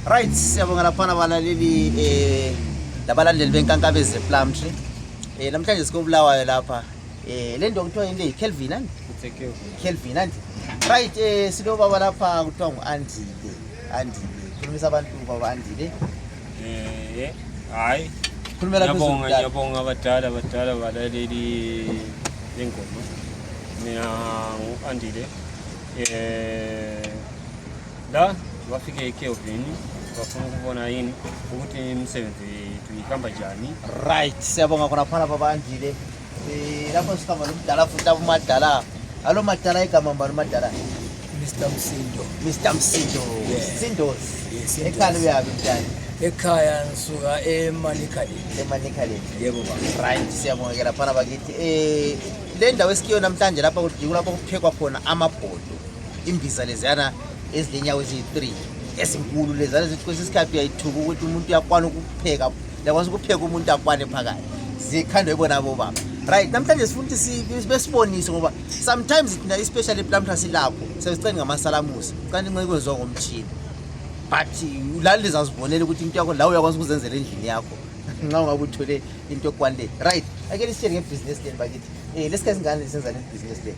Right, siyabonga laphana balaleli eh labalandeli benkankabe ze plum tree. Eh namhlanje sikobulawayo lapha. Eh lento kuthiwa yini le Kelvin and Kelvin and right eh silo baba lapha kuthiwa ngu Andile. Andile. Khulumisa abantu baba Andile. Eh hayi. Khulumela phezulu. Ngiyabonga ngiyabonga abadala abadala balaleli lengoma. Mina ngu Andile. Eh da wafika ikeo vini vafuna kuvona ini ukuti msebenzi tuyikamba jani right siyabonga khona phana babandile um lapho sikhamba nomdala futhi abomadala alo madala igama mbani umadala Mr. Msindo. Mr. Msindo. Yeah. Msindos. Yes, ekhaya uyabi mntana. Ekhaya ngisuka eManikali. eManikali. Yebo baba. Right, siyabongekela phana bakithi. Eh le ndawo esikuyona namhlanje lapha kujikula lapho kuphekwa khona amabhodo. imbiza leziyana ezilenyawo eziyi-three ezinkulu leziyana zithi kwesinye isikhathi uyayithuka ukuthi umuntu uyakwana ukupheka uyakwanisa ukupheka umuntu akwane phakathi zikhandwe bona bobaba right namhlanje sifuna ukuthi besibonise ngoba sometimes thina especially lamhla silapho sesicani ngamasalamusi cani nxa kwenziwa ngomtshini but lali lizazibonela ukuthi into yakho lawo uyakwanisa ukuzenzela endlini yakho nxa ungabe uthole into ekwanile right ake lisitshele ngebhizinesi leni bakithi um eh, lesikhathi singane lisenzani ebhizinesi leni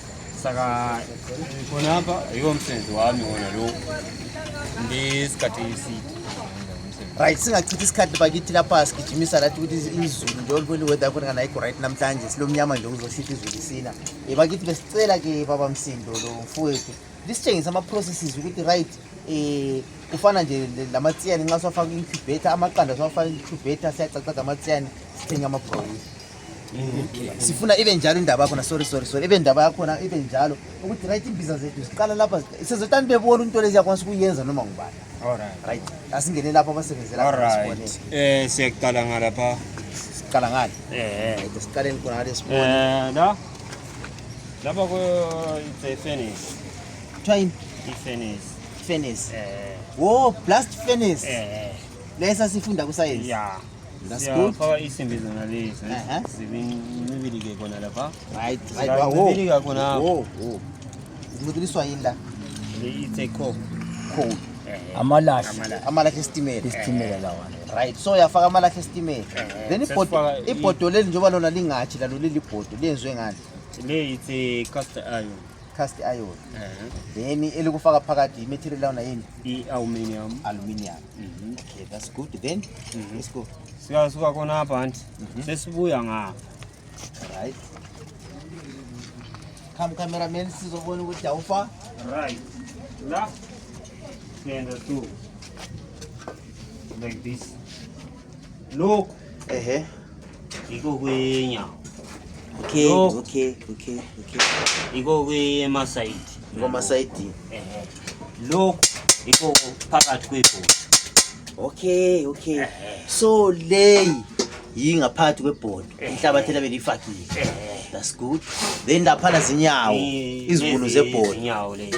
saka kona hapa iwo msenzi wami wona lo ndisikhathi iside right singachithi isikhathi bakithi lapha sigijimisa lathi ukuthi izulu nje olibona iweather yakhona kana ayikho right namhlanje silomnyama nje kuzoshitha izulu isina um bakithi besicela ke baba msindo lo mfowethu lisitshengise ama-processes ukuthi right um kufana nje lamatsiyane nxa siwafaka incubator amaqanda siwafaka incubator siyacacaza amatsiyane sithenge amabroyisi sifuna ibe njalo indaba yakhona sorry sorry sorry ibe ndaba yakhona ibe njalo ukuthi right imbiza zethu ziqala lapha sezotani bebona into lezi yakwanisa ukuyenza noma ngubani right asingene lapho abasebenzela um siyakuqala ngalapha siqala ngale eh, eh. siqaleni khona ngale sibone eh, la lapha ku it's a finish kuthiwa yini i-finish finish wo blast finish lesa sifunda kusayensi yeah That's yeah, good. Power is in business na leo. Eh, sivini mibili ke kona lapa. Right, right. Wow. Mibili ka kona. Wow. Wow. Mudri swayinda. Leyi take call. Call. Eh, eh. Amalashi. Amalashi estimela. Estimela lawa. Right. So yafaka amalashi estimela. Eh, Then ibhodo ibhodo leli njengoba lona lingathi lalo leli bhodo lenzwe ngani? Leyi ithe cast iron. cast iron then elikufaka phakathi i-material lawona yini i-aluminium aluminium Mhm. Okay, that's good then. Mhm. Let's go. Siyasuka khona hapa anti. Mhm. Sesibuya ngapha. Right. Come cameraman sizobona ukuthi awufa. Right. La. Siyenda tu. Like this. Look. Ehe. Iko kwenya. Okay, Look. okay, okay, okay. Iko kwe masaiti. Iko masaiti. Ehe. Look. Iko phakathi kwepo. Okay, okay. Ehe. So lay yingaphathi kwebhodo inhlabathi elabe lifakile. That's good. Then lapha zinyawo izibunu zebhodo. Inyawo lezi.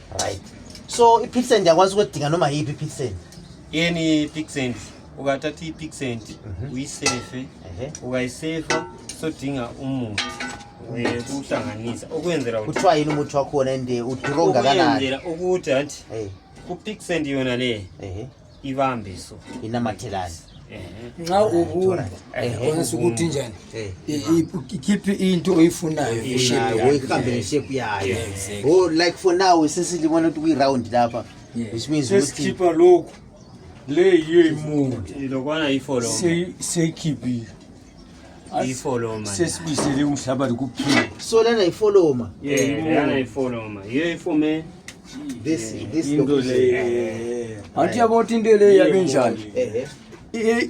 right so ipixent ndiyakwazi ukudinga noma yiphi ipixent yeni ipixent ukathatha ipixent mhm. uyisefe ukayisefa sodinga umuthi uhlanganisa ukwenzela kuthiwa yini umuthi wakhona ende udura ongakanani ukuthi anti kupixent yona le ibambiso inamathelane nxa ubumba kwanisa ukuthi njani ikhiphe into oyifunayo uyihambele ishepu yayo oh, like for now sesilibona ukuthi kuyiround lapha which means sesikhipha lokhu le yiyo imundi siyikhiphile ifoloma sesibisele umhlaba likuphila so lana ifoloma yeah lana ifoloma yiyo ifume this this into le anti yabo into le yabe njani eh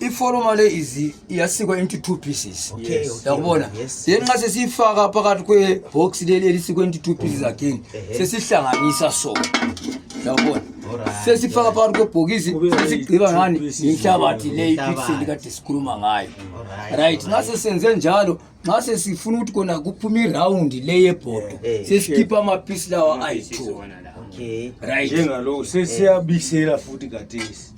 ifoloma le izi iyasikwa into two pieces yakubona then nxa sesiyifaka phakathi kwebox leli elisikwa into two pieces again sesihlanganisa so yakubona sesifaka phakathi kwebhokisi sesigqiba ngani yinhlabathi le ipixeli kade sikhuluma ngayo right nxa sesenze njalo nxa sesifuna ukuthi kona kuphume irawundi le yebhodo eh, eh. sesikhipha amaphisi lawa ayi-two right njengalowo sesiyabisela futhi kathesi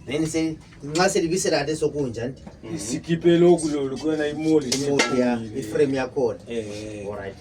then nxa selibisela kade sokunjani sikhiphe lokhu lolu kuyona imoli imoli ya iframe yakhona eh, alright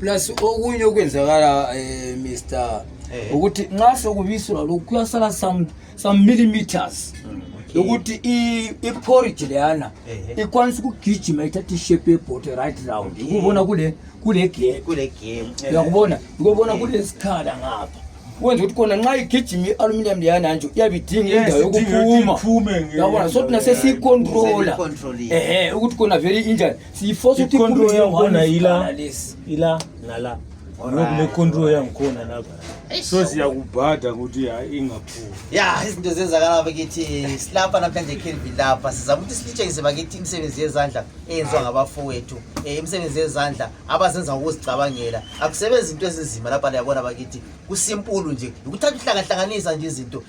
plus okunye okwenzakala eh, mr Eh. ukuthi nxa sekubiselwa lokhu kuyasala some, some millimeters mm, okay. ukuthi iporridge leyana eh. ikwanisa ukugijima ithatha ishape yebhote right round ukubona kule kule game uyakubona eh. ukubona kulesikhala ngapha wenza ukuthi kona nxa igijima i-aluminium leyana nje iyabe idinga indawo yokuphuma yabona so thina sesiyicontrola ehe ukuthi kona vele injani si force tu control ya ngona ila ila nala lokule control ya ngona nako so siya kubhada ukuthi ingaphumi ya izinto zenzakala bakithi silapha namhlanje Kelvin lapha sizama ukuthi silitshengise bakithi imisebenzi yezandla eyenziwa ngabafowethu eh, imisebenzi yezandla abazenza ngokuzicabangela akusebenzi into ezinzima lapha liyabona bakithi kusimpulu nje ukuthatha uhlangahlanganisa nje izinto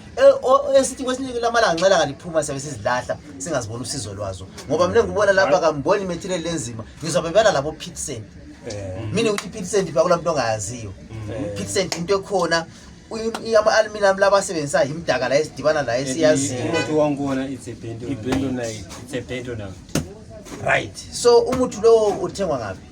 esithi kwesinye lamalanga nxa langa liphuma siyabe sizilahla singaziboni usizo lwazo ngoba mina ngibona lapha kamboni material lenzima ngizwa bebala labo pitsen eh. mina ukuthi pitsen bakula muntu ongayaziyo eh. pitsen into ekhona ama-aluminum laba asebenzisa yimdaka la esidibana la esiyaziyo right so umuthi lowo uthengwa ngaphi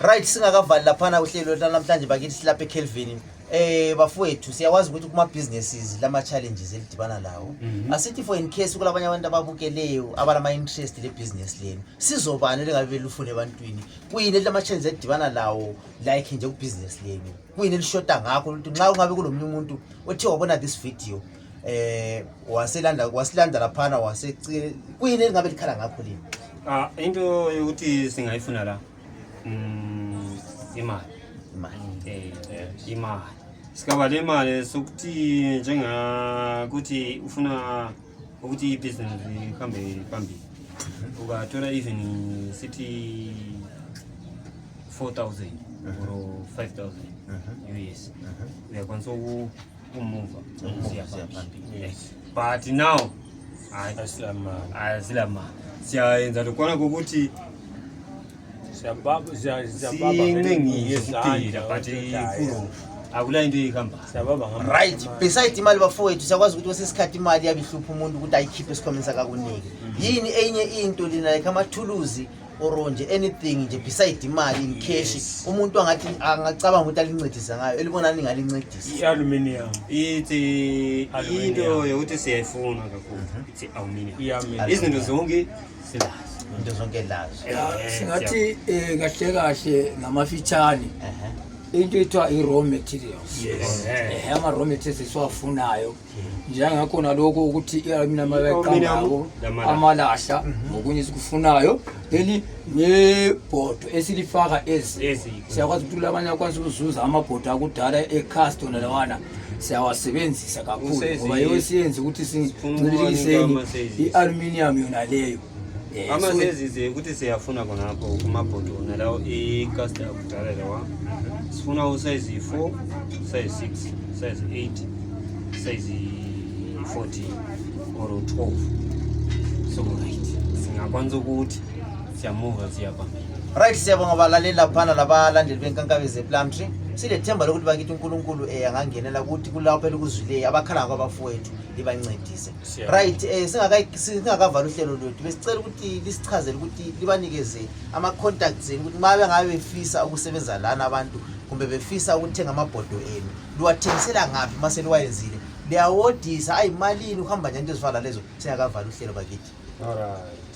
right singakavali laphana uhlelo namhlanje bakithi silapha ekelvini eh bafowethu siyawazi ukuthi kuma businesses lama challenges elidibana lawo mhm. asithi for in case kulabanye abantu ababukeleyo abalama interest le business lenu sizobani lingabe belufune ebantwini kuyini lama challenges elidibana lawo like nje ku business lenu kuyini elishoda ngakho ukuthi nxa kungabe kulomunye umuntu othe wabona this video eh waselanda wasilanda laphana wase kuyini elingabe likhala ngakho lini ah into yokuthi singayifuna la mm imali imali eh, eh imali sikaba le mali sokuthi njengakuthi ufuna Uji business kambe kambi. Uga tora even city 4000 or 5000 US. We are going to move But now I I Asilama. Siaenza tukwana kukuti sababu za sababu nyingi zitiri apate kuro akula into ikhamba sababu right beside imali bafowethu siyakwazi ukuthi kwesesikhathi imali yabihlupha umuntu ukuthi ayikhiphe esikhomeni sakakuniki yini enye into lina like amathuluzi or nje anything nje beside imali in cash umuntu angathi angacabanga ukuthi alincedisa ngayo elibonani ngalincedisa i-aluminium ithi into yokuthi siyayifuna kakhulu ithi aluminium izinto zonke into zonke lazo singathi um kahle kahle ngamafitshane into ethiwa i-raw materials um ama-raw materials esiwafunayo njengakhona lokho ukuthi iamina mabeqangako amalahla mhm. ngokunye esikufunayo then nebhodo esilifaka ezi siyakwazi ukuthi abanye akwazi ukuzuza amabhodo akudala ecastona lawana siyawasebenzisa kakhulu ngoba yiwo siyenze ukuthi sincibilikiseni i-aluminium yona leyo eh, amasezize ukuthi siyafuna khonapho kumabhodo wona lawo icasta yakudala lawa sifuna usayizi yi-four usayizi six usayizi eight usayizi fourteen or twelve so right singakwanisa ukuthi siyamuva siyaba Right siyabonga balaleli laphana labalandeli benkankabeze Plumtree. Silethemba lokuthi bakithi uNkulunkulu eh angangenela ukuthi kulapho elikuzwileyo abakhala kwabafowethu libancedise. Siyabonga. Right eh singaka singakavala uhlelo lwethu besicela ukuthi lisichazele ukuthi libanikeze ama contacts enu ukuthi mabe ngabe befisa ukusebenza lana abantu kumbe befisa ukuthenga amabhodo enu. Liwathengisela ngaphi mase liwayenzile? Liyawodisa ayimalini uhamba nje into ezifana lezo singakavala uhlelo bakithi. Alright.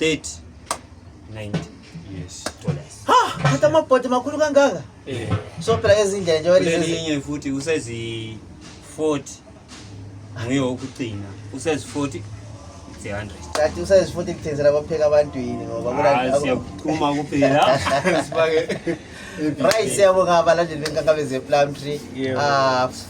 30 90 yes dollars ha hata mapoti makulu kangaka eh so pera ezinja nje wali zezi yenye futhi usezi 40 nguye okugcina usezi 40 Tati usayezi futhi kuthenzela kwapheka abantu yini ngoba ah, siyaphuma kuphela sibake right siyabonga abalandeli benkankabe ze-plum tree ah,